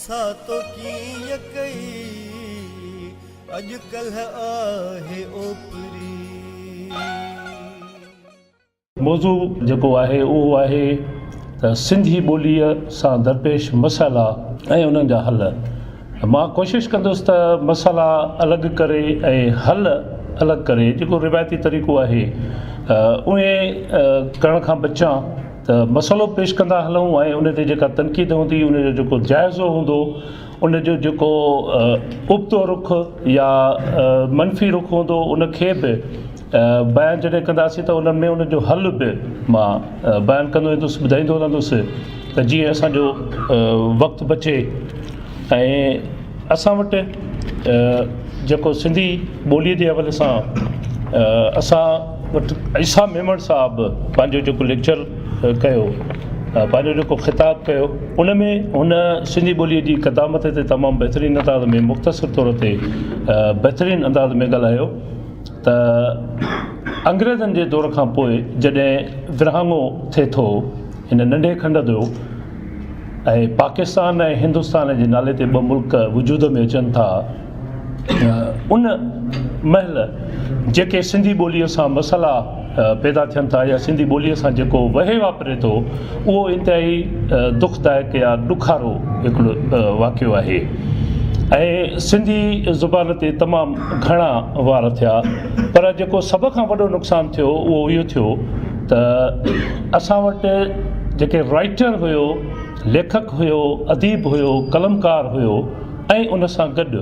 سا تو ڪيئن ڪئي اڄ ڪلهه آهي اوپري. موضوع جيڪو آهي اهو آهي ته سنڌي ٻوليء سان درپيش مسئلا ۽ انهن جا حل. مان ڪوشش ڪندس ته مسئلا الڳ ڪري ۽ حل الڳ ڪري جيڪو روايتي طريقو آهي اهي ڪرڻ کان بچان. ته مسئلو پيش ڪندا هلون ۽ ان تي جيڪا تنقيد هوندي ان جو جيڪو جائزو هوندو ان جو جيڪو ابتو رخ يا منفي رخ هوندو ان کي به بيان جڏهن ڪنداسين ته ان ۾ ان جو حل به مان بيان ڪندو ويندس ٻڌائيندو رهندس ته جيئن اسانجو وقت بچي ۽ اسان وٽ جيڪو سنڌي ٻوليء جي حوالي سان اسان وٽ عيسيٰ ميمڻ صاحب پنهنجو جيڪو ليڪچر ڪيو پنهنجو جيڪو خطاب ڪيو ان ۾ هن سنڌي ٻوليء جي قدامت تي تمام بهترين انداز ۾ مختصر طور تي بهترين انداز ۾ ڳالهايو ته انگريزن جي دور کان پوء جڏهن ورهاڱو ٿئي ٿو هن ننڍي کنڊ جو ۽ پاڪستان ۽ هندستان جي نالي تي ٻه ملڪ وجود ۾ اچن ٿا ته ان مهل جيڪي سنڌي ٻوليء سان مسئلا پيدا ٿين ٿا يا سنڌي ٻوليء سان جيڪو وهي واپري ٿو اهو انتهائي دک دائڪ يا ڏکارو هڪڙو واقعو آهي ۽ سنڌي زبان تي تمام گهڻا وار ٿيا پر جيڪو سڀ کان وڏو نقصان ٿيو اهو اهو ٿيو ته اسان وٽ جيڪي رائيٽر هيو، ليکڪ هيو، اديب هيو، قلمڪار هيو ۽ ان سان گڏ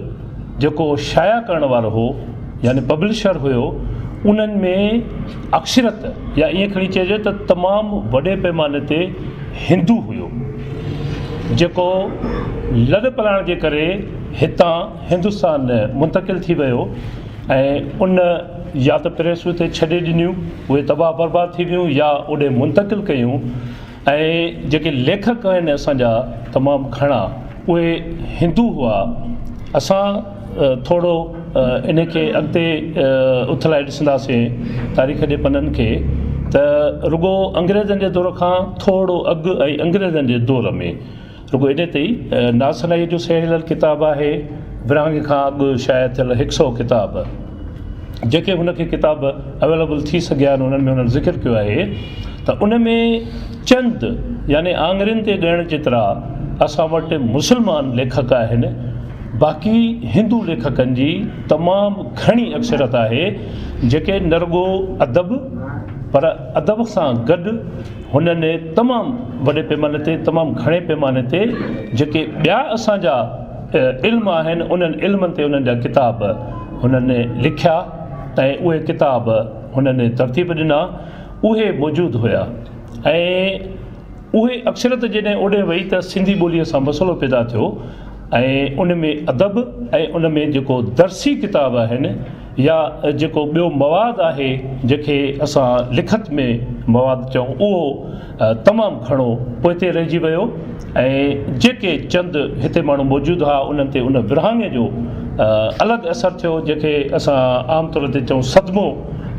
جيڪو شايع ڪرڻ وارو هو يعني پبلشر هيو انهن ۾ اڪثريت يا ائين کڻي چئجي ته تمام وڏي پيماني تي هندو هيو جيڪو لڏپلاڻ جي ڪري هتان هندستان منتقل ٿي ويو ۽ ان يا ته پريس اتي ڇڏي ڏنيون، اهي تباهه برباد ٿي ويون يا اوڏي منتقل ڪيون ۽ جيڪي ليکڪ آهن اسان جا تمام گهڻا اهي هندو هئا. اسان ٿورو ان کي اڳتي اٿلائي ڏسنداسين تاريخ جي پنن کي ته رڳو انگريزن جي دور کان ٿورو اڳ ۽ انگريزن جي دور ۾. رڳو ايڏي تي ئي ناسنائيء جو سهيڙيل ڪتاب آهي، ورهاڱي کان اڳ شايع ٿيل هڪ سئو ڪتاب، جيڪي هن کي ڪتاب اويليبل ٿي سگهيا آهن، انهن ۾ هن ذڪر ڪيو آهي ته ان ۾ چند يعني آڱرين تي ڳڻڻ جيترا اسان وٽ مسلمان ليکڪ آهن، باقي هندو ليکڪن جي تمام گهڻي اڪثريت آهي، جيڪي نه رڳو ادب پر ادب سان گڏ. هنن تمام وڏي پيماني تي تمام گهڻي پيماني تي جيڪي ٻيا اسان جا علم آهن انهن علمن تي انهن جا ڪتاب هنن لکيا ۽ اهي ڪتاب هنن ترتيب ڏنا اهي موجود هيا ۽ اهي اڪثريت جڏهن اوڏي وئي ته سنڌي ٻولي سان مسئلو پيدا ٿيو ۽ ان ۾ ادب ۽ ان ۾ جيڪو درسي ڪتاب آهن يا جيڪو ٻيو مواد آهي جنهن کي اسان لکت ۾ مواد چئون اهو تمام گهڻو پوئتي رهجي ويو ۽ جيڪي چند هتي ماڻهو موجود ها انهن تي ان ورهاڱي جو الڳ اثر ٿيو جنهن کي اسان عام طور تي چئون صدمو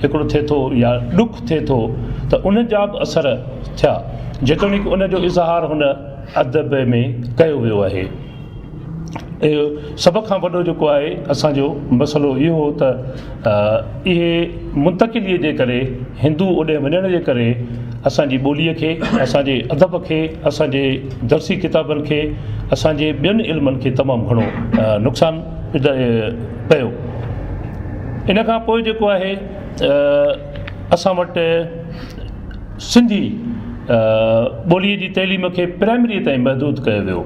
هڪڙو ٿئي ٿو يا ڏک ٿئي ٿو ته ان جا به اثر ٿيا جيتوڻيڪ ان جو اظهار هن ادب ۾ ڪيو ويو آهي. اهو سڀ کان وڏو جيڪو آهي اسان جو مسئلو اهو هو ته اهي منتقليء جي ڪري هندو اوڏي وڃڻ جي ڪري اسان جي ٻوليء کي اسان جي ادب کي اسان جي درسي ڪتابن کي اسان جي ٻين علمن کي تمام گهڻو نقصان پيو ان کان پوء جيڪو آهي اسان وٽ سنڌي ٻوليء جي تعليم کي پرائمريء تائين محدود ڪيو ويو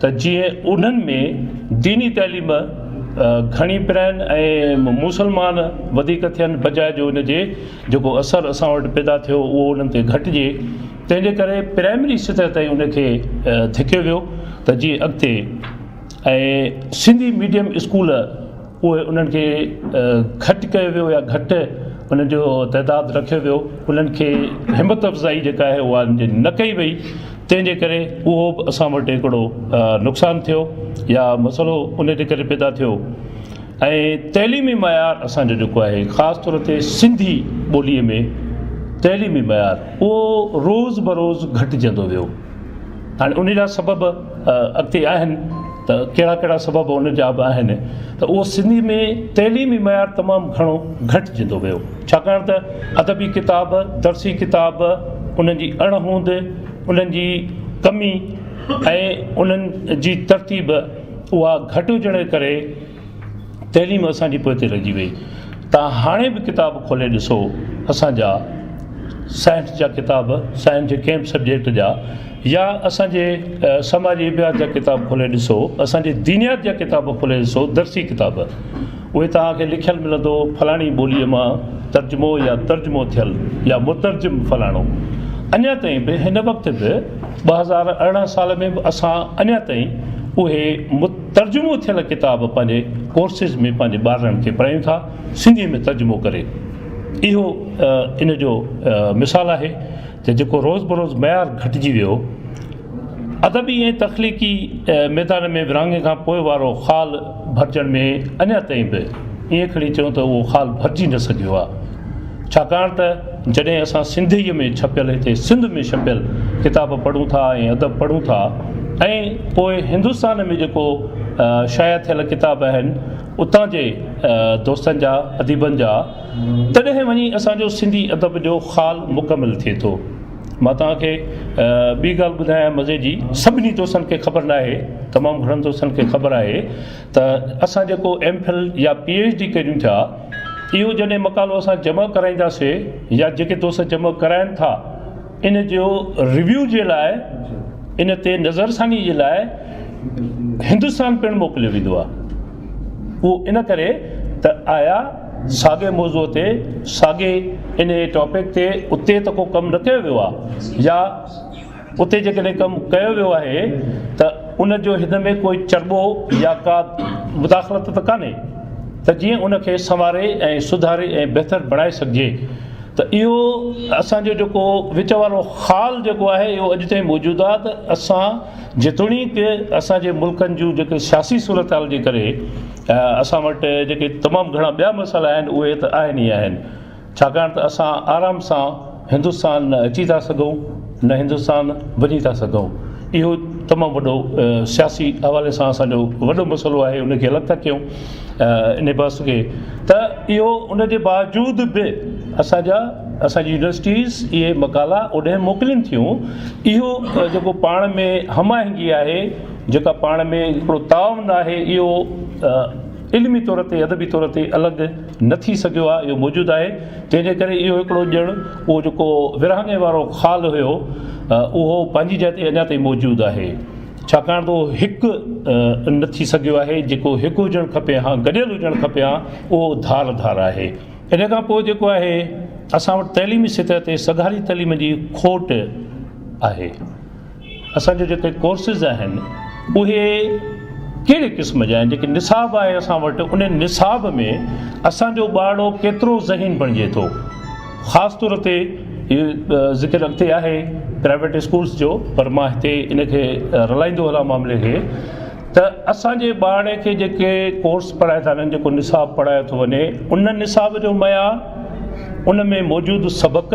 ته جيئن انهن ۾ ديني تعليم گهڻي پرائن ۽ مسلمان وڌيڪ ٿين بجاء جو ان جي جيڪو اثر اسان وٽ پيدا ٿيو اهو انهن تي گهٽجي تنهن جي ڪري پرائمري سطح تائين ان کي ڌڪيو ويو ته جيئن اڳتي ۽ سنڌي ميڊيم اسڪول اهي انهن کي گهٽ ڪيو ويو يا گهٽ انهن جو تعداد رکيو ويو انهن کي همت افزائي جيڪا آهي اها انهن جي نه ڪئي وئي تنهن جي ڪري اهو به اسان وٽ هڪڙو نقصان ٿيو يا مسئلو ان جي ڪري پيدا ٿيو ۽ تعليمي معيار اسان جو جيڪو آهي خاص طور تي سنڌي ٻولي ۾ تعليمي معيار اهو روز بروز گهٽجندو ويو هاڻي ان جا سبب اڳتي آهن ته ڪهڙا ڪهڙا سبب ان جا به آهن ته اهو سنڌي ۾ تعليمي معيار تمام گهڻو گهٽجندو ويو ڇاڪاڻ ته ادبي ڪتاب درسي ڪتاب انهن جي اڻ هوند انهن جي ڪمي ۽ انهن جي ترتيب اها گهٽ هجڻ ڪري تعليم اسان جي پوئتي رهجي وئي. تان هاڻي به ڪتاب کولي ڏسو اسان جا سائنس جا ڪتاب سائنس جي ڪنهن به سبجيڪٽ جا يا اسان جي سماجي ابحاث جا ڪتاب کولي ڏسو اسان جي دينيات جا ڪتاب کولي ڏسو درسي ڪتاب اهي توهان کي لکيل ملندو فلاڻي ٻولي مان ترجمو يا ترجمو ٿيل يا مترجم فلاڻو اڃا تائين به هن وقت به ٻه هزار ارڙهن سال ۾ به اسان اڃا تائين اهي مت ترجمو ٿيل ڪتاب پنهنجي ڪورسز ۾ پنهنجي ٻارڙن کي پڙهايون ٿا سنڌي ۾ ترجمو ڪري اهو ان جو مثال آهي ته جيڪو روز بروز معيار گهٽجي ويو ادبي ۽ تخليقي ميدان ۾ ورهاڱي کان پوء وارو خال ڀرجڻ ۾ اڃا تائين به ائين کڻي چئون ته اهو خال ڀرجي نه سگهيو آهي ڇاڪاڻ ته جڏهن اسان سنڌيء ۾ ڇپيل هتي سنڌ ۾ ڇپيل ڪتاب پڙهون ٿا ۽ ادب پڙهون ٿا ۽ پوء هندستان ۾ جيڪو شايع ٿيل ڪتاب آهن اتان جي دوستن جا اديبن جا تڏهن وڃي اسان جو سنڌي ادب جو خال مڪمل ٿئي ٿو مان توهان کي ٻي ڳالهه ٻڌايان مزي جي سڀني دوستن کي خبر ناهي تمام گهڻن دوستن کي خبر آهي ته اسان جيڪو ايم فل يا پي ايڇ ڊي ڪريون ٿيا اهو جڏهن مقالو اسان جمع ڪرائينداسي يا جيڪي دوست جمع ڪرائن ٿا ان جو ريويو جي لاء ان تي نظرثاني جي لاء هندستان پڻ موڪليو ويندو آهي اهو ان ڪري ته آيا ساڳي موضوع تي ساڳي ان ٽاپڪ تي اتي ته ڪو ڪم نه ڪيو ويو آهي يا اتي جيڪڏهن ڪم ڪيو ويو آهي ته ان جو هن ۾ ڪوئي چرٻو يا ڪا مداخلت ته ڪانهي ته جيئن ان کي سنواري ۽ سڌاري ۽ بهتر بڻائي سگهجي ته اهو اسان جو جيڪو وچ وارو خال جيڪو آهي اهو اڄ تائين موجود آهي ته اسان جيتوڻيڪ اسان جي ملڪن جون جيڪي سياسي صورتحال جي ڪري اسان وٽ جيڪي تمام گهڻا ٻيا مسئلا آهن اهي ته آهن ئي آهن ڇاڪاڻ ته اسان آرام سان هندستان نه اچي ٿا سگهون نه هندستان وڃي ٿا سگهون اهو تمام وڏو سياسي حوالي سان اسان جو وڏو مسئلو آهي ان کي الڳ ٿا ڪيون ان بحث کي ته اهو ان جي باوجود به اسانجا اسانجي يونيورسٽيز اهي مقالا اوڏانهن موڪلين ٿيون اهو جيڪو پاڻ ۾ هم آهنگي آهي جيڪا پاڻ ۾ هڪڙو تعاون آهي اهو علمي طور تي ادبي طور تي الڳ نه ٿي سگهيو آهي اهو موجود آهي تنهن جي ڪري اهو هڪڙو ڄڻ اهو جيڪو ورهاڱي وارو خال هيو اهو پنهنجي جاء تي اڃا تائين موجود آهي ڇاڪاڻ ته اهو هڪ نه ٿي سگهيو آهي جيڪو هڪ هجڻ کپي ها گڏيل هجڻ کپي ها اهو ڌار ڌار آهي ان کان پوء جيڪو آهي اسان وٽ تعليمي سطح تي سگهاري تعليم جي کوٽ آهي اسان جا جيڪي ڪورسز آهن اهي ڪهڙي قسم جا آهن جيڪي نصاب آهي اسان وٽ ان نصاب ۾ اسان جو ٻارڙو ڪيترو ذهين بڻجي ٿو خاص طور تي ذڪر اڳتي آهي پرائيويٽ اسڪولس جو پر مان هتي ان کي رلائيندو هلان معاملي کي ته اسان جي ٻارڙي کي جيڪي ڪورس پڙهائي ٿا وڃن جيڪو نصاب پڙهايو ٿو وڃي ان نصاب جو معيار ان ۾ موجود سبق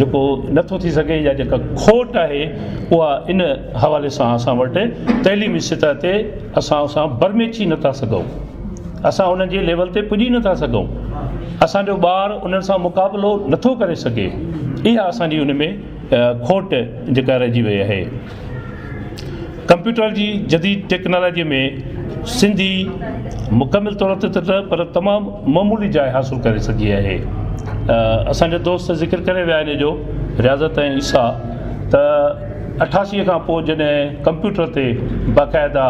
جيڪو نه ٿو ٿي سگهي يا جيڪا کوٽ آهي اها ان حوالي سان اسان وٽ تعليمي سطح تي اسان اسان برميچي نه ٿا سگهون اسان انهن جي ليول تي پڄي نه ٿا سگهون اسان جو ٻار انهن سان مقابلو نه ٿو ڪري سگهي اها اسان جي ان ۾ کوٽ جيڪا رهجي وئي آهي ڪمپيوٽر جي جديد ٽيڪنالاجيء ۾ سنڌي مڪمل طور تي ته نه پر تمام معمولي جاء حاصل ڪري سگهي آهي. اسان جا دوست ذڪر ڪري ويا ان جو رياضت ۽ عيسيٰ ته اٺاسيء کان پوء جڏهن ڪمپيوٽر تي باقاعده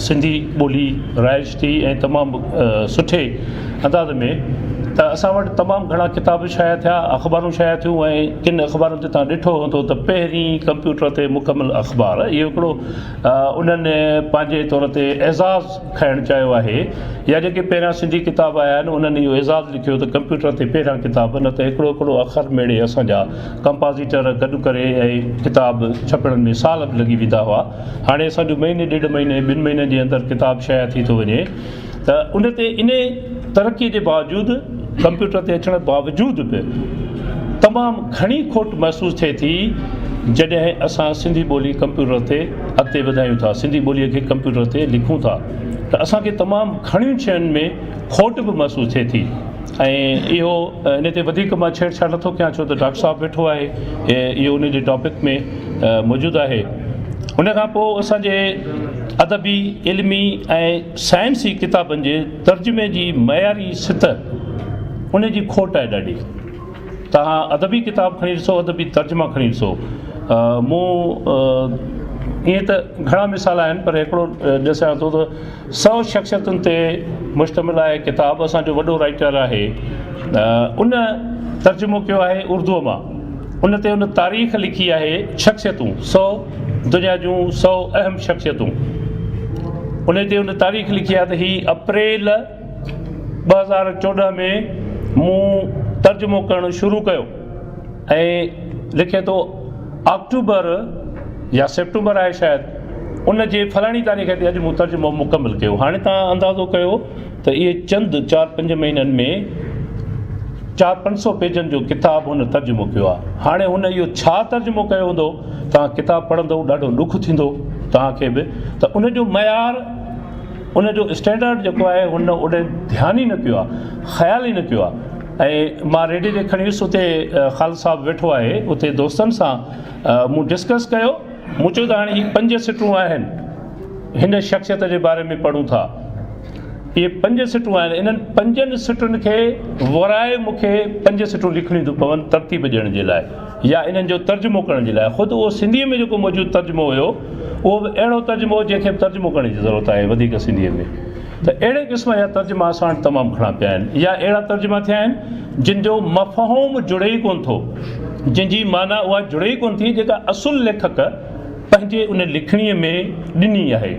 سنڌي ٻولي رائج ٿي ۽ تمام سٺي انداز ۾ ته اسان وٽ تمام گهڻا ڪتاب شايع ٿيا اخبارون شايع ٿيون ۽ ڪن اخبارن تي تان ڏٺو هوندو ته پهرين ڪمپيوٽر تي مڪمل اخبار اهو هڪڙو انهن پنهنجي طور تي اعزاز کائڻ چاهيو آهي يا جيڪي پهريان سنڌي ڪتاب آيا آهن انهن اهو اعزاز لکيو ته ڪمپيوٽر تي پهريان ڪتاب نه ته هڪڙو هڪڙو اکر ميڙي اسان جا ڪمپازيٽر گڏ ڪري ۽ ڪتاب ڇپڻ ۾ سال به لڳي ويندا هئا هاڻي اسان جو مهيني ڏيڍ مهيني ٻن مهينن جي اندر ڪتاب شايع ٿي ٿو وڃي ته ان تي انهي ترقي جي باوجود ڪمپيوٽر تي اچڻ باوجود به تمام گهڻي کوٽ محسوس ٿئي ٿي جڏهن اسان سنڌي ٻولي ڪمپيوٽر تي اڳتي وڌايون ٿا سنڌي ٻولي کي ڪمپيوٽر تي لکون ٿا ته اسان کي تمام گهڻين شين ۾ کوٽ به محسوس ٿئي ٿي ۽ اهو ان تي وڌيڪ مان ڇيڙ ڇاڙ نٿو ڪيان ڇو ته ڊاڪٽر صاحب ويٺو آهي اهو ان جي ٽاپڪ ۾ موجود آهي ان کان پوء اسان جي ادبي، علمي ۽ سائنسي ڪتابن جي ترجمي جي معياري سطح ان جي کوٽ آهي ڏاڍي توهان ادبي ڪتاب کڻي ڏسو ادبي ترجما کڻي ڏسو مون ائين ته گهڻا مثال آهن پر هڪڙو ڏسيان ٿو ته سؤ شخصيتن تي مشتمل آهي ڪتاب اسان جو وڏو رائيٽر آهي ان ترجمو ڪيو آهي اردوء مان ان تي ان تاريخ لکي آهي شخصيتون سؤ دنيا جون سؤ اهم شخصيتون ان تي ان تاريخ لکي آهي ته هي اپريل ٻه هزار چوڏهن ۾ مون ترجمو ڪرڻ شروع ڪيو ۽ لکي ٿو آڪٽوبر يا سيپٽمبر آهي شايد ان جي فلاڻي تاريخ تي اڄ مون ترجمو مڪمل ڪيو هاڻي توهان اندازو ڪيو ته اهي چند چار پنج مهينن ۾ چار پنج سو پيجن جو ڪتاب هن ترجمو ڪيو آهي هاڻي هن اهو ڇا ترجمو ڪيو هوندو توهان ڪتاب پڙهندو ڏاڍو ڏک ٿيندو توهان کي به ته ان جو معيار ان جو اسٽينڊرڊ جيڪو آهي هن اوڏي ڌيان ئي نه ڪيو آهي خيال ئي نه ڪيو آهي ۽ مان ريڊي تي کڻي ويس اتي خالد صاحب ويٺو آهي اتي دوستن سان مون ڊسڪس ڪيو مون چيو ته هاڻي هي پنج سٽون آهن هن شخصيت جي باري ۾ پڙهون ٿا اهي پنج سٽون آهن انهن پنجن سٽن کي ورائي مون کي پنج سٽون لکڻيون ٿيون پون ترتيب ڏيڻ جي لاء يا انهن جو ترجمو ڪرڻ جي لاء خود اهو سنڌي ۾ جيڪو موجود ترجمو هيو اهو به اهڙو ترجمو هو جنهن کي ترجمو ڪرڻ جي ضرورت آهي وڌيڪ سنڌي ۾ ته اهڙي قسم جا ترجما اسان وٽ تمام گهڻا پيا آهن يا اهڙا ترجما ٿيا آهن جن جو مفهوم جڙي ئي ڪونه ٿو، جن جي معنيٰ اها جڙي ئي ڪونه ٿي جيڪا اصل ليکڪ پنهنجي ان لکڻيء ۾ ڏني آهي.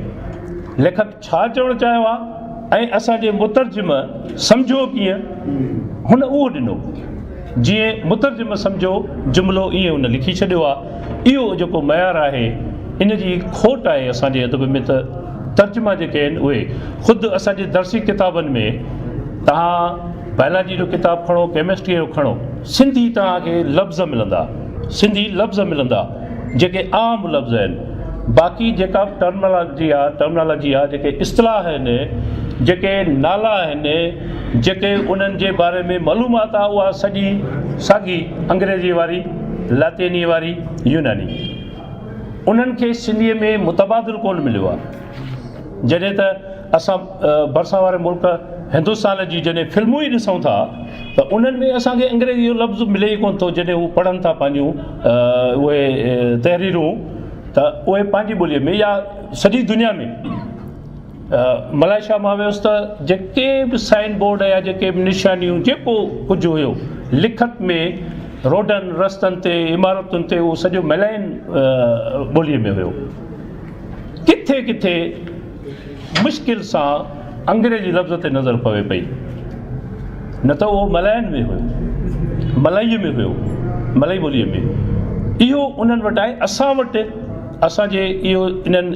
ليکڪ ڇا چوڻ چاهيو آهي ۽ اسان جي مترجم سمجهيو ڪيئن هن اهو ڏنو. جيئن مترجم سمجهو جملو ايئن ان لکي ڇڏيو آ اهو جيڪو معيار آهي ان جي کوٽ آهي اسان جي ادب ۾ ته ترجما جيڪي آهن اهي خود اسان جي درسي ڪتابن ۾ توهان بائلاجي جو ڪتاب کڻو ڪيمسٽري جو کڻو سنڌي توهان کي لفظ ملندا سنڌي لفظ ملندا جيڪي عام لفظ آهن باقي جيڪا ٽرمنالاجي آ ٽرمنالاجي آ جيڪي اصطلاح آهن جيڪي نالا آهن جيڪي انهن جي باري ۾ معلومات آ اها سڄي ساڳي انگريزي واري، لاطيني واري، يوناني. انهن کي سنڌيء ۾ متبادل ڪونه مليو آ. جڏهن ته اسان ڀرسان واري ملڪ هندستان جي جڏهن فلمون ئي ڏسون ٿا ته انهن ۾ اسان کي انگريزي جو لفظ ملي ئي ڪونه ٿو جڏهن هو پڙهن ٿا پنهنجون اهي تحريرون ته اهي پنهنجي ٻوليء ۾ يا سڄي دنيا ۾. ملائي شاهه مان ويس ته جيڪي به سائين بورڊ يا جيڪي به نشانيون جيڪو ڪجهه هيو لکت ۾ روڊن رستن تي عمارتن تي اهو سڄو ملائين ٻوليء ۾ هيو ڪٿي ڪٿي مشڪل سان انگريزي لفظ تي نظر پوي پئي نه ته اهو ملائين ۾ هيو ملائي ۾ هيو ملائي ٻوليء ۾ اهو انهن وٽ آهي اسان وٽ اسان جي اهو انهن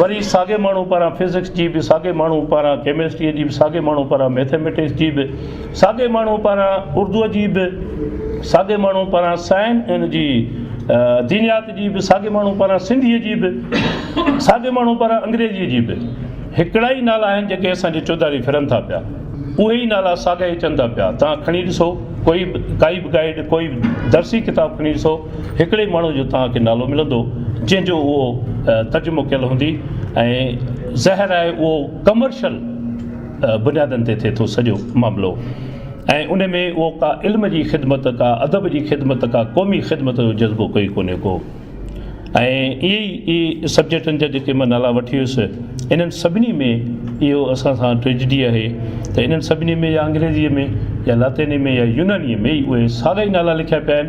وري ساڳئي ماڻهو پاران فزڪس جي به، ساڳئي ماڻهو پاران ڪيمسٽريء جي به، ساڳئي ماڻهو پاران مئٿيميٽڪس جي به، ساڳئي ماڻهو پاران اردوء جي به، ساڳئي ماڻهو پاران سائن ان جي دينيات جي به، ساڳئي ماڻهو پاران سنڌيء جي به، ساڳئي ماڻهو پاران انگريزيء جي به. هڪڙا ئي نالا آهن جيڪي اسان جي چوڌاري ڦرن ٿا پيا. اهي ئي نالا ساڳيا ئي اچن ٿا پيا. توهان کڻي ڏسو ڪوئي به ڪائي به گائيڊ، ڪوئي به درسي ڪتاب کڻي ڏسو. هڪڙي ئي ماڻهو جو توهان کي نالو ملندو جنهن جو اهو ترجمو ڪيل هوندي ۽ ظاهر آهي اهو ڪمرشل بنيادن تي ٿئي ٿو سڄو معاملو ۽ ان ۾ اهو ڪا علم جي خدمت ڪا ادب جي خدمت ڪا قومي خدمت جو جذبو ڪوئي ڪونهي ڪو ۽ اهي ئي سبجيڪٽن جا جيڪي مان نالا وٺي ويس انهن سڀني ۾ اهو اسان سان ٽريجڊي آهي ته انهن سڀني ۾ يا انگريزيء ۾ يا لاطيني ۾ يا يونانيء ۾ ئي اهي ساڳا ئي نالا لکيا پيا آهن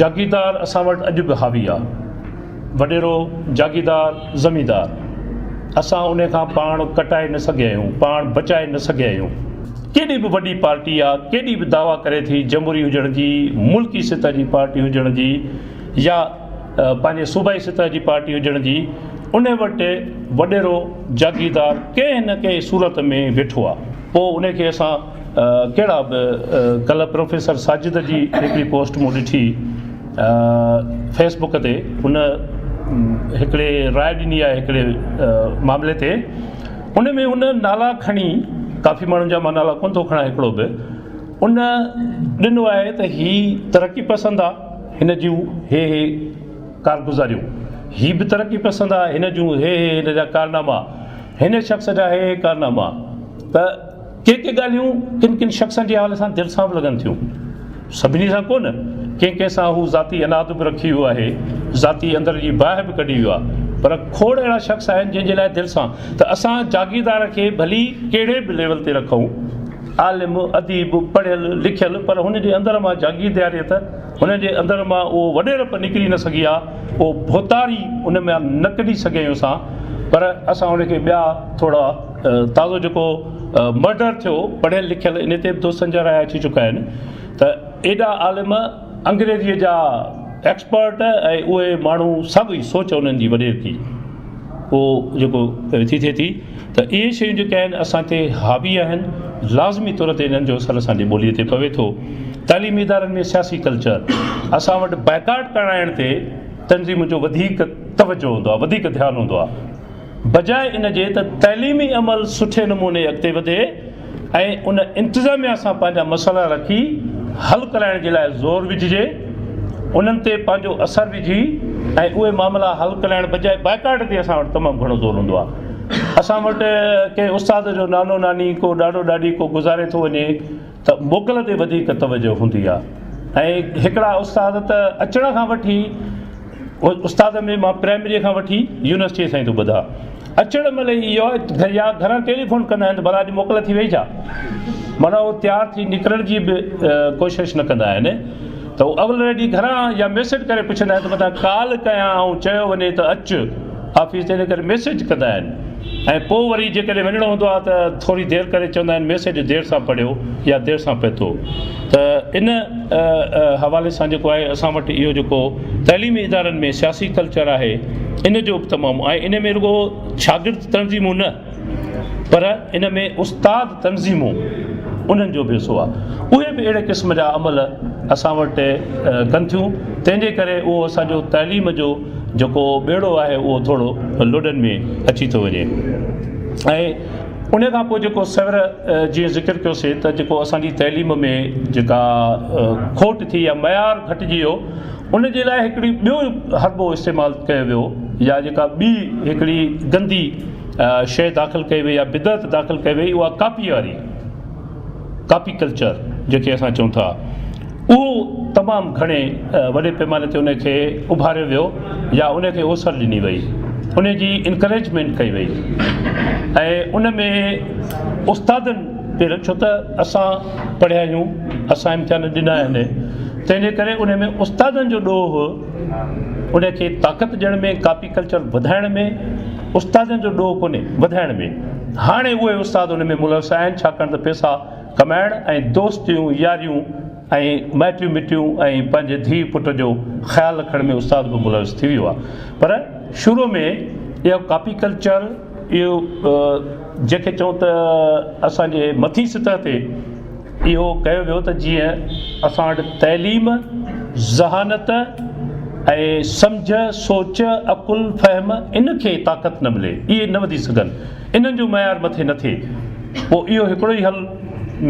جاگيردار اسان وٽ اڄ به حاوي آ. وڏيرو، جاگيردار، زميندار. اسان انهي کان پاڻ ڪٽائي نه سگهيا آهيون، پاڻ بچائي نه سگهيا آهيون. ڪيڏي به وڏي پارٽي آ، ڪيڏي به دعويٰ ڪري ٿي جمهوري هجڻ جي، ملڪي سطح جي پارٽي هجڻ جي يا پنهنجي صوبائي سطح جي پارٽي هجڻ جي، انهي وٽ وڏيرو، جاگيردار، ڪنهن نه ڪنهن صورت ۾ ويٺو آ. پوء انهي کي اسان ڪهڙا به ڪلهه پروفيسر ساجد جي هڪڙي پوسٽ مون ڏٺي فيسبڪ تي هن هڪڙي راء ڏني آهي هڪڙي معاملي تي ان ۾ هن نالا کڻي ڪافي ماڻهن جا مان نالا ڪون ٿو کڻا هڪڙو به ان ڏنو آهي ته هي ترقي پسند آهي هن جون هي هي ڪارگذاريون هي به ترقي پسند آهي هن جون هي هي هن جا ڪارناما هن شخص جا هي هي ڪارناما ته ڪي ڪي ڳالهيون ڪن ڪن شخصن جي حوالي سان دل سان به لڳن ٿيون. سڀني سان ڪو نه. ڪنهن ڪنهن سان هو ذاتي عناد به رکي ويو آهي، ذاتي اندر جي باهه به ڪڍي ويو آهي. پر کوڙ اهڙا شخص آهن جن جي لاء دل سان ته اسان جاگيردار کي ڀلي ڪهڙي به ليول تي رکون، عالم، اديب، پڙهيل لکيل پر هن جي اندر مان جاگيردياريت، هن جي اندر مان اهو وڏيرپ نڪري نه سگهي ها، اهو ڀوتار ئي ان مان نه ڪڍي سگهيون اسان. پر اسان ان کي ٻيا ٿورا. تازو جيڪو مرڊر ٿيو پڙهيل لکيل ان تي به دوستن جا رايا اچي چڪا آهن ته ايڏا عالم انگريزيء جا ايڪسپرٽ ۽ اهي ماڻهو سڀ ئي سوچ انهن جي وڏير ٿي پوء جيڪو ٿي ٿئي ٿي ته اهي شيون جيڪي آهن اسان تي حاوي آهن لازمي طور تي انهن جو اثر اسان جي ٻوليء تي پوي ٿو تعليمي ادارن ۾ سياسي ڪلچر اسان وٽ بائيڪاٽ ڪرائڻ تي تنظيمن جو وڌيڪ توجهه هوندو آهي وڌيڪ ڌيان هوندو آهي بجاء ان جي ته تعليمي عمل سٺي نموني اڳتي وڌي ۽ ان انتظاميا سان پنهنجا مسئلا رکي حل ڪرائڻ جي لاء زور وجهجي انهن تي پنهنجو اثر وجهي ۽ اهي معاملا حل ڪرائڻ بجاء بائيڪاٽ تي اسان وٽ تمام گهڻو زور هوندو آهي اسان وٽ ڪنهن استاد جو نانو ناني ڪو ڏاڏو ڏاڏي ڪو گذاري ٿو وڃي ته موڪل تي وڌيڪ توجهه هوندي آهي ۽ هڪڙا استاد ته اچڻ کان وٺي استاد ۾ مان پرائمري کان وٺي يونيورسٽي تائين ٿو ٻڌان اچڻ مهل ئي اهو آهي يا گهران ٽيليفون ڪندا آهن ته ڀلا اڄ موڪل ٿي وئي ڇا؟ معنيٰ هو تيار ٿي نڪرڻ جي به ڪوشش نه ڪندا آهن ته هو اول ريڊي گهران يا ميسيڊ ڪري پڇندا آهن ته متان ڪال ڪيان ۽ چيو وڃي ته اچ آفيس تي ان ڪري ميسيڊ ڪندا آهن ۽ پوء وري جيڪڏهن وڃڻو هوندو آهي ته ٿوري دير ڪري چوندا آهن ميسيڊ دير سان پڙهيو يا دير سان پهتو ته ان حوالي سان جيڪو آهي اسان وٽ اهو جيڪو تعليمي ادارن ۾ سياسي ڪلچر آهي ان جو به تمام ۽ ان ۾ رڳو شاگرد تنظيمون نه پر ان ۾ استاد تنظيمون انهن جو به حصو آهي اهي به اهڙي قسم جا عمل اسان وٽ ڪن ٿيون تنهن جي ڪري اهو اسان جو تعليم جو جيڪو ٻيڙو آهي اهو ٿورو لڏن ۾ اچي ٿو وڃي ۽ ان کان پوء جيڪو سر جي ذڪر ڪيوسي ته جيڪو اسان جي تعليم ۾ جيڪا کوٽ ٿي يا معيار گهٽجي ويو ان جي لاء هڪڙي ٻيو حربو استعمال ڪيو ويو يا جيڪا ٻي هڪڙي گندي شيء داخل ڪئي وئي يا بدعت داخل ڪئي وئي اها ڪاپي واري ڪاپي ڪلچر جنهن کي اسان چئون ٿا اهو تمام گهڻي وڏي پيماني تي ان کي اڀاريو ويو يا ان کي اوسر ڏني وئي ان جي انڪريجمينٽ ڪئي وئي ۽ ان ۾ استادن پي ڇو ته اسان پڙهيا آهيون اسان امتحان ڏنا آهن تنهنجي ڪري ان ۾ استادن جو ڏوهه ان کي طاقت ڏيڻ ۾ ڪاپي ايگريڪلچر وڌائڻ ۾ استادن جو ڏوهه ڪونهي، وڌائڻ ۾ هاڻي اهي استاد ان ۾ ملوث آهن، ڇاڪاڻ ته پئسا ڪمائڻ ۽ دوستيون ياريون ۽ مائٽيون مٽيون ۽ پنهنجي ڌيء پٽ جو خيال رکڻ ۾ استاد به ملوث ٿي ويو آهي پر شروع ۾ اهو ڪاپي ڪلچر اهو جنهن کي چئون ته اسان جي مٿي سطح تي اهو ڪيو ويو ته جيئن اسان وٽ تعليم ذهانت ۽ سمجهه سوچ عقل فهم ان کي طاقت نه ملي اهي نه وڌي سگهن انهن جو معيار مٿي نه ٿئي پوء اهو هڪڙو ئي حل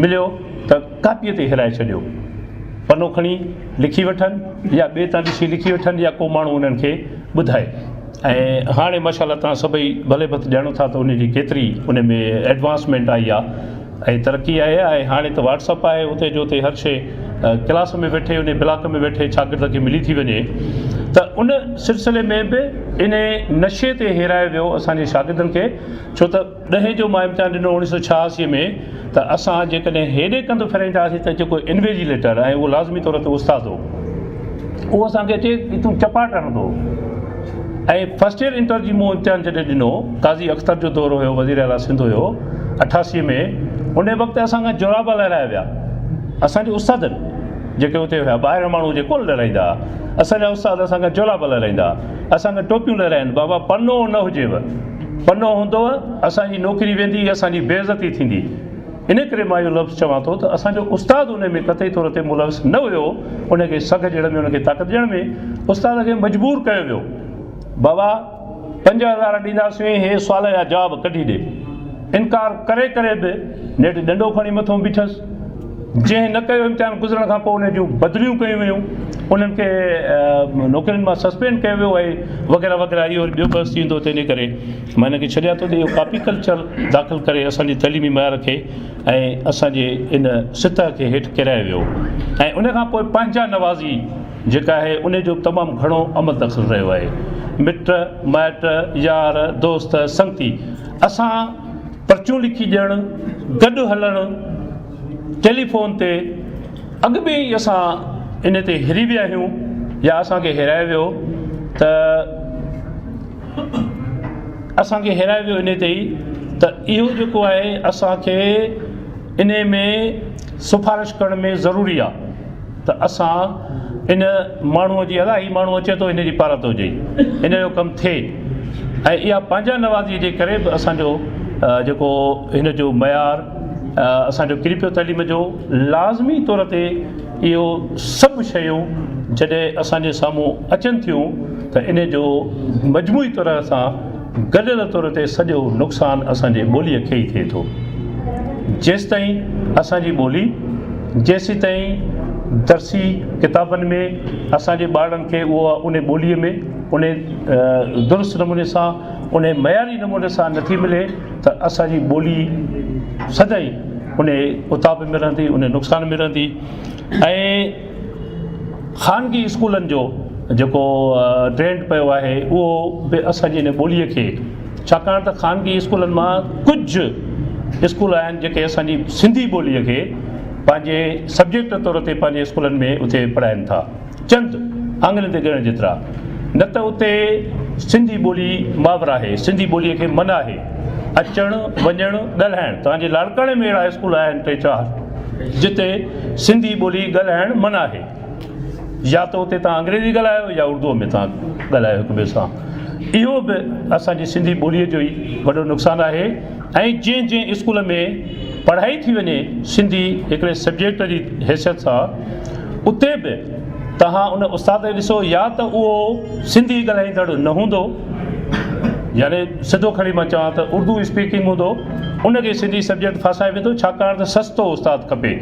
مليو ته ڪاپيء تي هيرائي ڇڏيو پنو کڻي لکي وٺن يا ٻئي تان ڏسي لکي وٺن يا ڪو ماڻهو انهن کي ٻڌائي ۽ هاڻي ماشا الله توهان سڀئي ڀلي ڀت ڄاڻو ٿا ته ان جي ڪيتري ان ۾ ايڊوانسمينٽ آئي آ ۽ ترقي آئي آ ۽ هاڻي ته واٽسپ آهي اتي جو اتي هر شي ڪلاس ۾ ويٺي ان بلاڪ ۾ ويٺي شاگرد کي ملي ٿي وڃي ته ان سلسلي ۾ به ان نشي تي هيرايو ويو اسانجي شاگردن کي ڇو ته ڏهين جو مان امتحان ڏنو اوڻيهه سؤ ڇهاسي ۾ ته اسان جيڪڏهن هيڏي ڪنڌ ڦيرائيندا هئاسين ته جيڪو انويجيليٽر ۽ اهو لازمي طور تي استاد هو اهو اسان کي چي ته تون چپاٽ هڻندو ۽ فرسٽ ايئر انٽر جي مون امتحان جڏهن ڏنو قاضي اختر جو دور هيو وزير اعليٰ سنڌ هيو اٺاسي ۾ ان وقت اسان کان جورابا لهرايا ويا اسان جي استادن جيڪي اتي هيا ٻاهريان ماڻهو جي ڪون لهرائيندا هئا اسان جا استاد اسان کان جورابا لهرائيندا هئا اسان کان ٽوپيون لهرائين بابا پنو نه هجيو پنو هوندوء، اسان جي نوڪري ويندي ۽ اسان جي بي عزتي ٿيندي. ان ڪري مان اهو لفظ چوان ٿو ته اسان جو استاد انهي ۾ قطعي طور تي ملوث نه هيو، ان کي سگهه ڏيڻ ۾ ان کي طاقت ڏيڻ ۾ استاد کي مجبور ڪيو ويو. بابا پنج هزار ڏينداسين هي سوال جا جواب ڪڍي ڏي. انڪار ڪري ڪري به نيٺ ڏنڊو کڻي مٿو بيٺس. جنهن نه ڪيو امتحان گذرڻ کان پوء انهن جون بدليون ڪيون ويون انهن کي نوڪرين مان سسپينڊ ڪيو ويو آهي وغيره وغيره اهو وري ٻيو بحث ٿيندو ته ان ڪري مان هن کي ڇڏيان ٿو ته اهو ڪاپي ڪلچر داخل ڪري اسان جي تعليمي معيار کي ۽ اسان جي ان سطح کي هيٺ ڪرايو ويو ۽ ان کان پوء پنهنجا نوازي جيڪا آهي ان جو تمام گهڻو عمل دخل رهيو آهي مٽ مائٽ يار دوست سنگتي اسان پرچون لکي ڏيڻ، گڏ هلڻ، ٽيليفون تي، اڳ ۾ ئي اسان ان تي هري ويا آهيون يا اسان کي هيرائي ويو ته اسان کي هيرائي ويو ان تي ئي ته اهو جيڪو آهي اسان کي ان ۾ سفارش ڪرڻ ۾ ضروري آهي ته اسان ان ماڻهوء جي الاهي ماڻهو اچي ٿو ان جي پارت هجي ان جو ڪم ٿئي ۽ اها پنهنجا نوازيء جي ڪري به اسان جو جيڪو هن جو معيار اسان جو ڪري پيو تعليم جو لازمي طور تي اهو سڀ شيون جڏهن اسان جي سامهون اچن ٿيون ته ان جو مجموعي طرح سان گڏيل طور تي سڄو نقصان اسان جي ٻوليء کي ئي ٿئي ٿو. جيستائين اسان جي ٻولي، جيسيتائين درسي ڪتابن ۾ اسان جي ٻارڙن کي اها انهي ٻوليء ۾ انهي درست نموني سان انهي معياري نموني سان نٿي ملي ته اسان جي ٻولي سدائين انهي اتاپ ۾ رهندي، انهي نقصان ۾ رهندي ۽ خانگي اسڪولن جو جيڪو ٽرينڊ پيو آهي اهو به اسانجي ان ٻوليء کي ڇاڪاڻ ته خانگي اسڪولن مان ڪجهه اسڪول آهن جيڪي اسانجي سنڌي ٻوليء کي پنهنجي سبجيڪٽ طور تي پنهنجي اسڪولن ۾ اتي پڙهائن ٿا چند آڱرين تي ڳڻڻ جيترا نه ته اتي سنڌي ٻولي ماور آهي سنڌي ٻوليء کي من آهي اچڻ وڃڻ ڳالهائڻ تهانجي لاڙڪاڻي ۾ اهڙا اسڪول آهن ٽي چار جتي سنڌي ٻولي ڳالهائڻ منع آهي يا ته اتي توهان انگريزي ڳالهايو يا اردوء ۾ توهان ڳالهايو هڪ ٻئي سان اهو به اسان جي سنڌي ٻوليء جو ئي وڏو نقصان آهي ۽ جنهن جنهن اسڪول ۾ پڙهائي ٿي وڃي سنڌي هڪڙي سبجيڪٽ جي حيثيت سان اتي به توهان ان استاد کي ڏسو يا ته اهو سنڌي ڳالهائيندڙ نه هوندو يعني سڌو کڻي مان چوان ته اردو اسپيڪنگ هوندو ان کي سنڌي سبجيڪٽ ڦاسائي ويندو ڇاڪاڻ ته سستو استاد کپي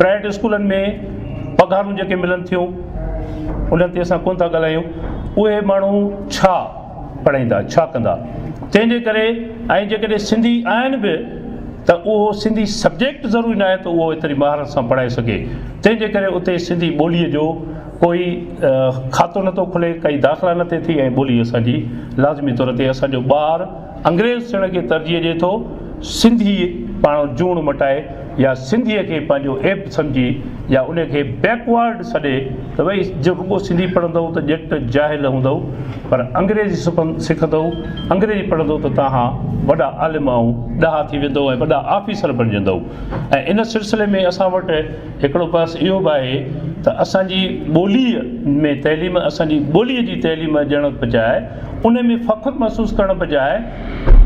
پرائيويٽ اسڪولن ۾ پگهارون جيڪي ملن ٿيون انهن تي اسان ڪونه ٿا ڳالهايون اهي ماڻهو ڇا پڙهائيندا ڇا ڪندا تنهن جي ڪري ۽ جيڪڏهن سنڌي آهن به ته اهو سنڌي سبجيڪٽ ضروري ناهي ته اهو ايتري مهارت سان پڙهائي سگهي تنهن جي ڪري اتي سنڌي ٻولي جو ڪوئي کاتو نه ٿو کلي ڪئي داخلا نه ٿي ٿي ۽ ٻولي اسان جي لازمي طور تي اسان جو ٻار انگريز ٿيڻ کي ترجيح ڏي ٿو سنڌي پاڻ جوڻ مٽائي يا سنڌيء کي پنهنجو عيب سمجهي يا ان کي بيڪ وارڊ سڏي ته وئي جو رڳو سنڌي پڙهندؤ ته ڄٽ جاهل هوندؤ پر انگريزي سکندؤ انگريزي پڙهندؤ ته توهان وڏا عالم ۽ ڏاها ٿي ويندؤ ۽ وڏا آفيسر بڻجندؤ ۽ ان سلسلي ۾ اسان وٽ هڪڙو بحث اهو به آهي ته اسان جي ٻوليء ۾ تعليم اسان جي ٻوليء جي تعليم ڏيڻ بجاء ان ۾ فخر محسوس ڪرڻ بجاء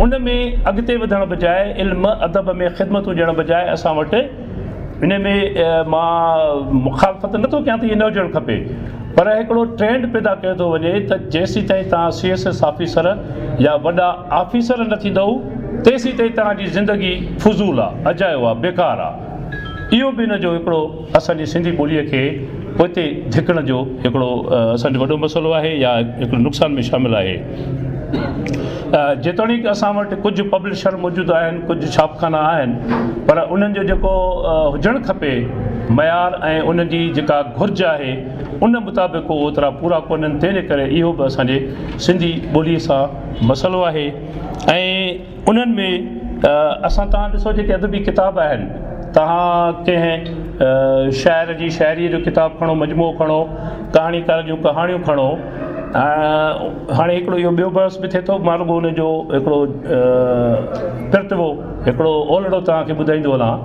ان ۾ اڳتي وڌڻ بجاء علم ادب ۾ خدمتون ڏيڻ بجاء اسان وٽ ان ۾ مان مخالفت نٿو ڪيان ته ايئن نه هجڻ کپي پر هڪڙو ٽرينڊ پيدا ڪيو ٿو وڃي ته جيسيتائين توهان سي ايس ايس آفيسر يا وڏا آفيسر نه ٿيندؤ تيسيتائين توهان جي زندگي فضول آ اجايو آ بيڪار آ اهو به ان جو هڪڙو اسان جي سنڌي ٻوليء کي پوئتي ڌڪڻ جو هڪڙو اسان جو وڏو مسئلو آهي يا هڪڙي نقصان ۾ شامل آهي. جيتوڻيڪ اسان وٽ ڪجهه پبلشر موجود آهن، ڪجهه ڇاپخانا آهن، پر انهن جو جيڪو هجڻ کپي معيار ۽ ان جي جيڪا گهرج آهي، ان مطابق هو اوترا پورا ڪونهن، تنهن جي ڪري اهو به اسان جي سنڌي ٻوليء سان مسئلو آهي ۽ انهن ۾ اسان توهان ڏسو جيڪي ادبي ڪتاب آهن توهان ڪنهن شاعر جي شاعريء جو ڪتاب کڻو مجموعو کڻو ڪهاڻيڪار جون ڪهاڻيون کڻو هاڻي هڪڙو اهو ٻيو بحث به ٿئي ٿو مان رڳو ان جو هڪڙو ترتبو هڪڙو اولڙو توهان کي ٻڌائيندو هلان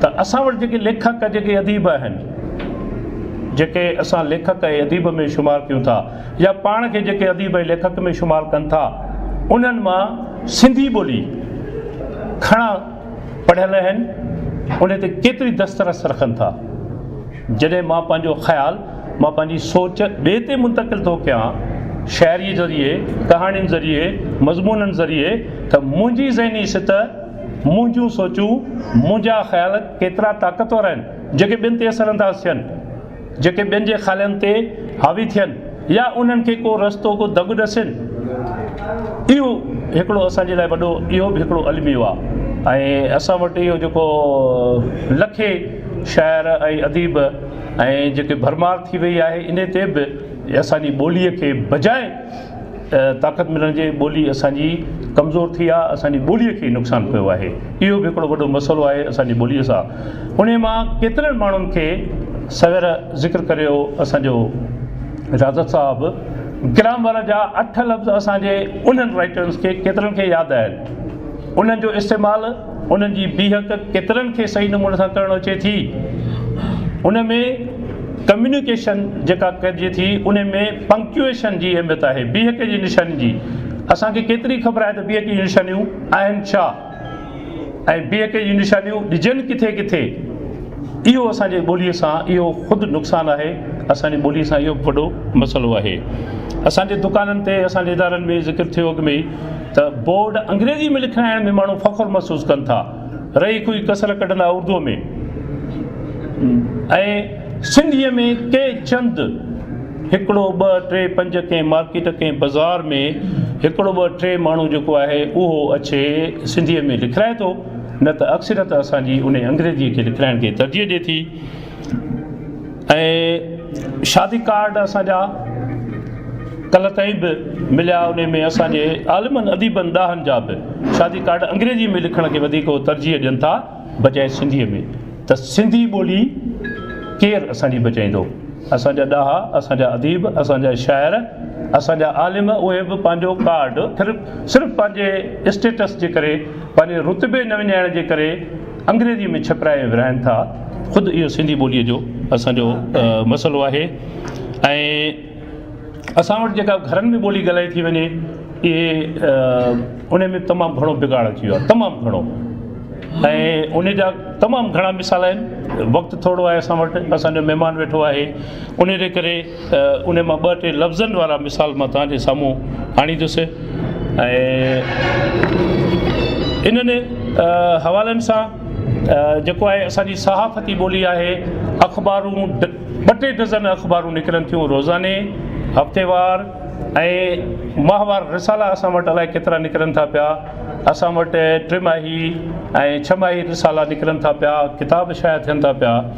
ته اسان وٽ جيڪي ليکڪ جيڪي اديب آهن جيڪي اسان ليکڪ ۽ اديب ۾ شمار ڪيون ٿا يا پاڻ کي جيڪي اديب ۽ ليکڪ ۾ شمار ڪن ٿا انهن مان سنڌي ٻولي گهڻا پڙهيل آهن ان تي ڪيتري دسترس رکن ٿا جڏهن مان پنهنجو خيال مان پنهنجي سوچ ٻئي تي منتقل ٿو ڪيان شاعري ذريعي ڪهاڻين ذريعي مضمونن ذريعي ته منهنجي ذهني سطح منهنجون سوچون منهنجا خيال ڪيترا طاقتور آهن جيڪي ٻين تي اثر انداز ٿين جيڪي ٻين جي خالن تي حاوي ٿين يا انهن کي ڪو رستو ڪو دڳ ڏسين اهو هڪڙو اسان جي لاء وڏو اهو به هڪڙو الميو آ ۽ اسان وٽ اهو جيڪو لکي شاعر ۽ اديب ۽ جيڪي ڀرمار ٿي وئي آهي انهي تي به اسان جي ٻولي کي بجاء طاقت ملڻ جي ٻولي اسانجي ڪمزور ٿي آ اسانجي ٻولي کي نقصان پيو آهي اهو به هڪڙو وڏو مسئلو آهي اسانجي ٻولي سان ان مان ڪيترن ماڻهن کي سوير ذڪر ڪريو اسانجو اجازت صاحب ڪرام وارا جا اٺ لفظ اسانجي انهن رائٽرس کي ڪيترن کي ياد آهن انهن جو استعمال انهن جي بيهڪ ڪيترن کي صحيح نموني سان ڪرڻ اچي ٿي ان ۾ ڪميونيڪيشن جيڪا ڪجي ٿي ان ۾ پنڪچوئيشن جي اهميت آهي بيهڪ جي نشانين جي اسان کي ڪيتري خبر آهي ته بيهڪ جي نشانيون آهن ڇا ۽ بيهڪ جي نشانيون ڏجن ڪٿي ڪٿي اهو اسان جي ٻولي سان اهو خود نقصان آهي اسان جي ٻولي سان اهو وڏو مسئلو آهي اسان جي دڪانن تي اسان جي ادارن ۾ ذڪر ٿيو اڳ ۾ ته بورڊ انگريزي ۾ لکرائڻ ۾ ماڻهو فخر محسوس ڪن ٿا. رهي ڪوئي ڪسر ڪڍندا اردوء ۾ ۽ سنڌيء ۾ ڪي چند هڪڙو ٻه ٽي پنج ڪنهن مارڪيٽ ڪنهن بزار ۾ هڪڙو ٻه ٽي ماڻهو جيڪو آهي اهو اڇي سنڌيء ۾ لکرائي ٿو نه ته اڪثريت اسان جي انهي انگريزيء کي لکرائڻ کي ترجيح ڏي ٿي. ۽ شادي ڪارڊ اسان جا ڪلهه تائين به مليا ان ۾ اسان جي عالمن اديبن ڏاهن جا به شادي ڪارڊ انگريزي ۾ لکڻ کي وڌيڪ هو ترجيح ڏين ٿا بجائي سنڌي ۾ ته سنڌي ٻولي ڪير اسان جي بچائيندو اسان جا ڏاها اسان جا اديب اسان جا شاعر اسان جا عالم اهي به پنهنجو ڪارڊ صرف صرف پنهنجي اسٽيٽس جي ڪري پنهنجي رتبي نه وڃائڻ جي ڪري انگريزيء ۾ ڇپرائي ورهائن ٿا، خود اهو سنڌي ٻوليء جو اسان جو مسئلو آهي ۽ اسان وٽ جيڪا گهرن ۾ ٻولي ڳالهائي ٿي وڃي اهي ان ۾ تمام گهڻو بگاڙ اچي ويو آهي تمام گهڻو ۽ ان جا تمام گهڻا مثال آهن وقت ٿورڙو آهي اسان وٽ اسان جو مهمان ويٺو آهي ان جي ڪري انهي مان ٻه ٽي لفظن وارا مثال مان توهان جي سامهون آڻيندس ۽ انهن حوالن سان جيڪو آهي اسان جي صحافتي ٻولي آهي اخبارون ٻه ٽي ڊزن اخبارون نڪرن ٿيون روزاني هفتيوار ۽ ماهوار رسالا اسان وٽ الائي ڪيترا نڪرن ٿا پيا اسان وٽ ٽي ماهي ۽ ڇهه ماهي رسالا نڪرن ٿا پيا ڪتاب شايع ٿين ٿا پيا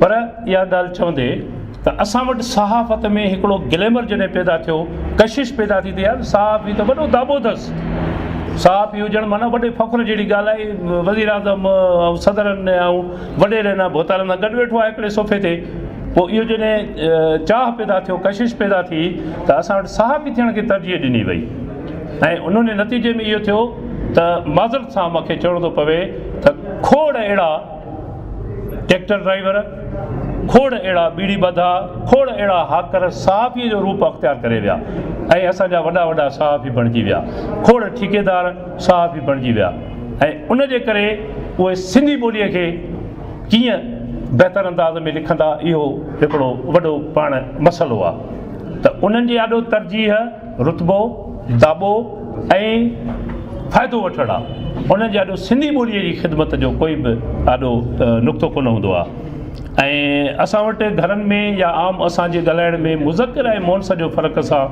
پر اها ڳالهه چوندي ته اسان وٽ صحافت ۾ هڪڙو گليمر جڏهن پيدا ٿيو، ڪشش پيدا ٿي ته يار صحافي ته وڏو داٻو اٿس. صحافي هجڻ معنيٰ وڏي فخر جهڙي ڳالهه آهي. وزيراعظم ۽ صدرن ۽ وڏيرن ۽ ڀوتارن سان گڏ ويٺو آهي هڪڙي صوفي تي. پوء اهو جڏهن چاهه پيدا ٿيو، ڪشش پيدا ٿي ته اسان وٽ صحافي ٿيڻ کي ترجيح ڏني وئي ۽ انهوني نتيجي ۾ اهو ٿيو ته معذرت سان مون کي چوڻو ٿو پوي ته کوڙ اهڙا ٽيڪٽر ڊرائيور، کوڙ اهڙا ٻيڙي ٻڌا، کوڙ اهڙا هاڪر صحافيء جو روپ اختيار ڪري ويا ۽ اسان جا وڏا وڏا صحافي بڻجي ويا. کوڙ ٺيڪيدار صحافي بڻجي ويا ۽ ان جي ڪري اهي سنڌي ٻوليء کي ڪيئن بهتر انداز ۾ لکندا اهو هڪڙو وڏو پاڻ مسئلو آهي ته انهن جي آڏو ترجيح رتبو، داٻو ۽ فائدو وٺڻ آ، انهن جي آڏو سنڌي ٻوليء جي خدمت جو ڪوئي به آڏو نقطو ڪونه هوندو آ ۽ اسان وٽ گهرن ۾ يا عام اسان جي ڳالهائڻ ۾ مذڪر ۽ مؤنث جو فرق اسان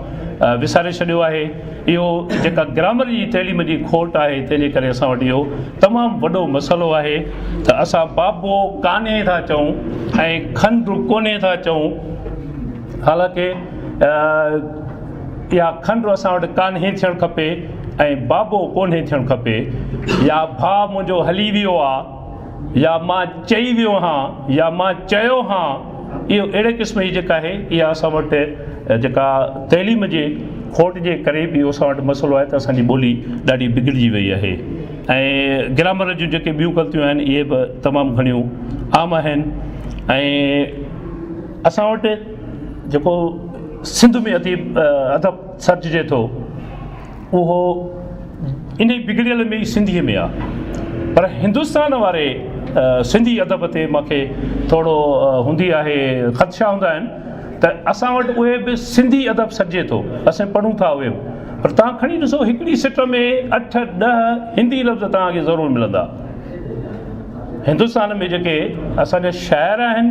وساري ڇڏيو آهي. اهو جيڪا گرامر جي تعليم جي کوٽ آهي، تنهن جي ڪري اسان وٽ اهو تمام وڏو مسئلو آهي ته اسان بابو ڪانهي ٿا چئون ۽ کنڊ ڪونهي ٿا چئون، حالانڪه يا کنڊ اسان وٽ ڪانهي ٿيڻ کپي ۽ بابو ڪونهي ٿيڻ کپي يا ڀاء منهنجو هلي ويو آ يا مان چئي ويو هان يا مان چيو هان اهو اهڙي قسم جي جيڪا آهي اها اسان وٽ جيڪا تعليم جي کوٽ جي ڪري به اهو اسان وٽ مسئلو آهي ته اسان جي ٻولي ڏاڍي بگڙجي وئي آهي ۽ گرامر جون جيڪي ٻيون غلطيون آهن اهي به تمام گهڻيون عام آهن ۽ اسان وٽ جيڪو سنڌ ۾ اديب ادب سرججي ٿو اهو انهي بگڙيل ۾ ئي سنڌي ۾ آهي پر هندستان واري سنڌي ادب تي مونکي ٿورو هوندي آهي خدشا هوندا آهن ته اسان وٽ اهي به سنڌي ادب سرجي ٿو اسين پڙهون ٿا اهي به پر توهان کڻي ڏسو هڪڙي سٽ ۾ اٺ ڏهه هندي لفظ توهان کي ضرور ملندا. هندستان ۾ جيڪي اسان جا شاعر آهن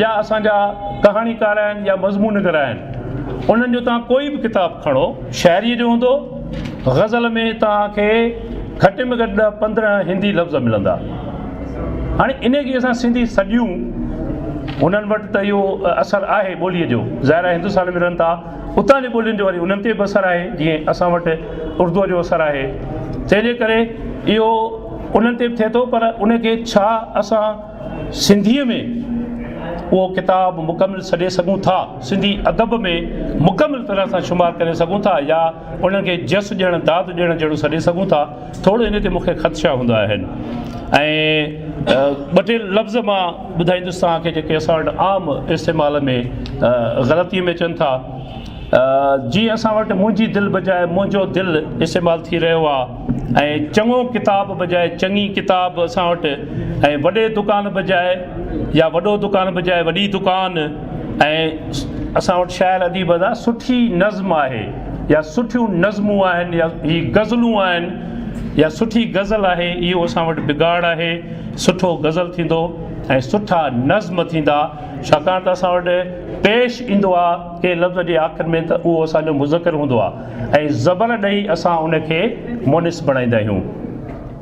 يا اسان جا ڪهاڻيڪار آهن يا مضمون نگار آهن انهن جو توهان ڪوئي به ڪتاب کڻو شاعريء جو هوندو غزل ۾ توهان کي گهٽ ۾ گهٽ ڏهه پندرهن هندي لفظ ملندا هاڻي انهيء کي اسان سنڌي سڏيون انهن وٽ ته اهو اثر آهي ٻوليء جو ظاهر آهي هندستان ۾ رهن ٿا اتان جي ٻولين جو وري انهن تي به اثر آهي جيئن اسان وٽ اردوء جو اثر آهي تنهن جي ڪري اهو انهن تي به ٿئي ٿو پر ان کي ڇا اسان سنڌيء ۾ اهو ڪتاب مڪمل سڏي سگهون ٿا سنڌي ادب ۾ مڪمل طرح سان شمار ڪري سگهون ٿا يا انهن کي جس ڏيڻ داد ڏيڻ جهڙو سڏي سگهون ٿا ٿورڙو ان تي مون کي خدشا هوندا آهن ۽ ٻه ٽي لفظ مان ٻڌائيندس توهان کي جيڪي اسان وٽ عام استعمال ۾ غلطي ۾ اچن ٿا جيئن اسان وٽ منهنجي دل بجاء منهنجو دل استعمال ٿي رهيو آهي ۽ چڱو ڪتاب بجاء چڱي ڪتاب اسان وٽ ۽ وڏي دڪان بجاء يا وڏو دڪان بجاء وڏي دڪان ۽ اسان وٽ شاعر اديب سٺي نظم آهي يا سٺيون نظمون آهن يا هي غزلون آهن يا سٺي غزل آهي اهو اسان وٽ بگاڙ آهي سٺو غزل ٿيندو ۽ سٺا نظم ٿيندا ڇاڪاڻ ته اسان وٽ پيش ايندو آهي ڪنهن لفظ جي آخر ۾ ته اهو اسان جو مذڪر هوندو آهي ۽ زبر ڏئي اسان ان کي مونث بڻائيندا آهيون.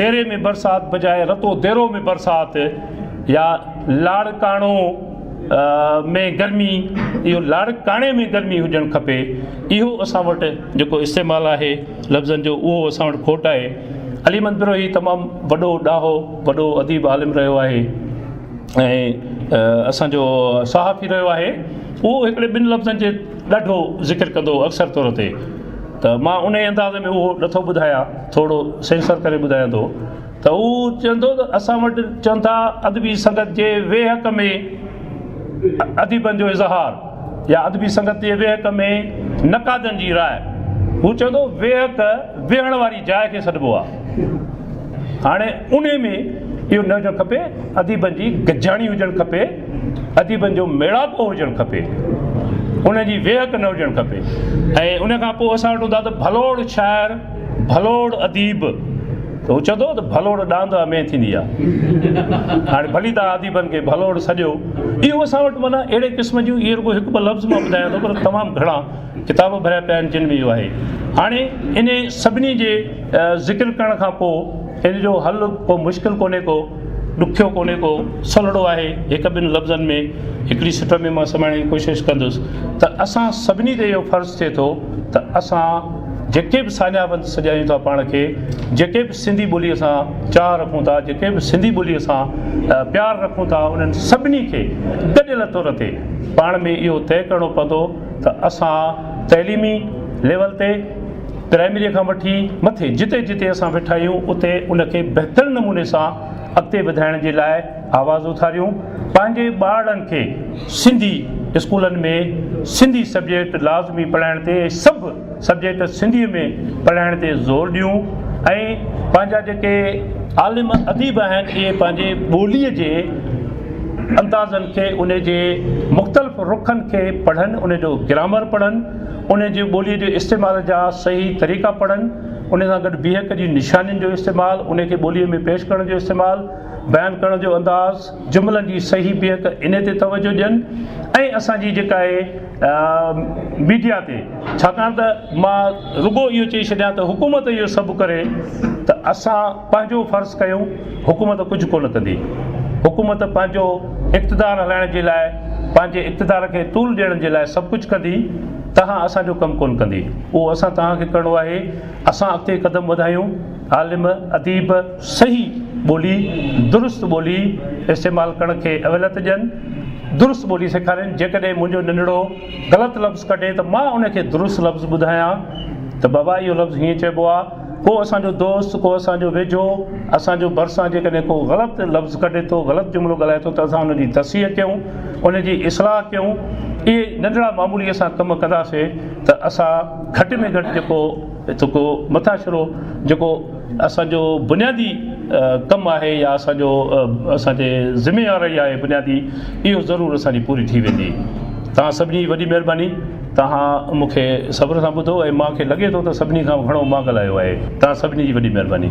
ديري ۾ برسات بجاء رتو ديرو ۾ برسات يا لاڙڪاڻو ۾ گرمي اهو لاڙڪاڻي ۾ گرمي هجڻ کپي اهو اسان وٽ جيڪو استعمال آهي لفظن جو اهو اسان وٽ کوٽ آهي علي احمد بروهي تمام وڏو ڏاهو وڏو اديب عالم رهيو آهي ۽ اسان جو صحافي رهيو آهي اهو هڪڙي ٻن لفظن جي ڏاڍو ذڪر ڪندو اڪثر طور تي ته مان انهي انداز ۾ اهو نٿو ٻڌايا ٿورو سينسر ڪري ٻڌايان ٿو ته هو چوندو ته اسان وٽ چون ٿا ادبي سنگت جي ويهڪ ۾ اديبن جو اظهار يا ادبي سنگت جي ويهڪ ۾ نقادن جي راء هو چوندو ويهڪ ويهڻ واري جاء کي سڏبو آهي هاڻي انهي ۾ اهو نه هجڻ کپي اديبن جي گڏجاڻي هجڻ کپي اديبن جو ميڙاڪو هجڻ کپي، ان جي ويهڪ نه هجڻ کپي ۽ ان کان پوء اسان وٽ هوندا ته ڀلوڙ شاعر، ڀلوڙ اديب ته هو چوندو هو ته ڀلوڙ ڏاند امين ٿيندي آ. هاڻي ڀلي توهان اديبن کي ڀلوڙ سڏيو. اهو اسان وٽ معنيٰ اهڙي قسم جون اهي رڳو هڪ ٻه لفظ مان ٻڌايان ٿو پر تمام گهڻا ڪتاب ڀريا پيا آهن جن ۾ اهو آهي. هاڻي انهي سڀني جي ذڪر ڪرڻ کان پوء ان جو حل ڪو مشڪل ڪونهي ڪو. ڏکيو ڪونهي ڪو، سولڙو آهي، هڪ ٻن لفظن ۾ هڪڙي سٽر ۾ مان سمائڻ جي ڪوشش ڪندس ته اسان سڀني تي اهو فرض ٿئي ٿو ته اسان جيڪي به ساڃاهه سڏيائيون ٿا پاڻ کي، جيڪي به سنڌي ٻوليء سان چاهه رکون ٿا، جيڪي به سنڌي ٻوليء سان پيار رکون ٿا انهن سڀني کي گڏيل طور تي پاڻ ۾ اهو طئي ڪرڻو پوندو ته اسان تعليمي ليول تي، پرائمريء کان وٺي مٿي جتي جتي اسان ويٺا آهيون اتي ان کي بهتر نموني سان اڳتي وڌائڻ جي لاء آواز اٿاريون، پنهنجي ٻارڙن کي سنڌي اسڪولن ۾ سنڌي سبجيڪٽ لازمي پڙهائڻ تي ۽ سڀ سبجيڪٽ سنڌيء ۾ پڙهائڻ تي زور ڏيون ۽ پنهنجا جيڪي عالم اديب آهن اهي پنهنجي ٻوليء جي اندازن کي ان جي مختلف رخن کي پڙهن ان جو گرامر پڙهن. انهيء جي ٻوليء جي استعمال جا صحيح طريقا پڙهن، انهيء سان گڏ بيهڪ جي نشانين جو استعمال، انهيء کي ٻوليء ۾ پيش ڪرڻ جو استعمال، بيان ڪرڻ جو انداز، جملن جي صحيح بيهڪ انهيء تي توجهه ڏين ۽ اسان جي جيڪا اهي ميڊيا تي ڇاڪاڻ ته مان رڳو اهو چئي ڇڏيان ته حڪومت اهو سڀ ڪري ته اسان پنهنجو فرض ڪيون. حڪومت ڪجهه ڪونه ڪندي. حڪومت پنهنجو اقتدار هلائڻ جي لاء، پنهنجي اقتدار کي طول ڏيڻ جي لاء سڀ ڪجهه ڪندي، تنهن اسان جو ڪم ڪونه ڪندي. اهو اسان توهان کي ڪرڻو آهي. اسان اڳتي قدم وڌايون، عالم، اديب صحيح ٻولي، درست ٻولي استعمال ڪرڻ کي اوليت ڏين، درست ٻولي سيکارين. جيڪڏهن منهنجو ننڍڙو غلط لفظ ڪڍي ته مان ان کي درست لفظ ٻڌايان ته بابا اهو لفظ هيئن چئبو آهي. ڪو اسان جو دوست، ڪو اسان جو ويجهو، اسان جو ڀرسان جيڪڏهن ڪو غلط لفظ ڪڍي ٿو، غلط جملو ڳالهائي ٿو ته اسان ان جي تصحيح ڪيون، ان جي اصلاح ڪيون. اهي ننڍڙا معمولي اسان ڪم ڪنداسين ته اسان گهٽ ۾ گهٽ جيڪو جيڪو مٿاڇرو جيڪو اسان جو بنيادي ڪم آهي يا اسان جو اسان جي ذميواري آهي بنيادي اهو ضرور اسان جي پوري ٿي ويندي. توهان سڀني جي وڏي مهرباني. توهان مون کي صبر سان ٻڌو ۽ مان کي لڳي ٿو ته سڀني کان گهڻو مان ڳالهايو آهي. توهان سڀني جي وڏي مهرباني.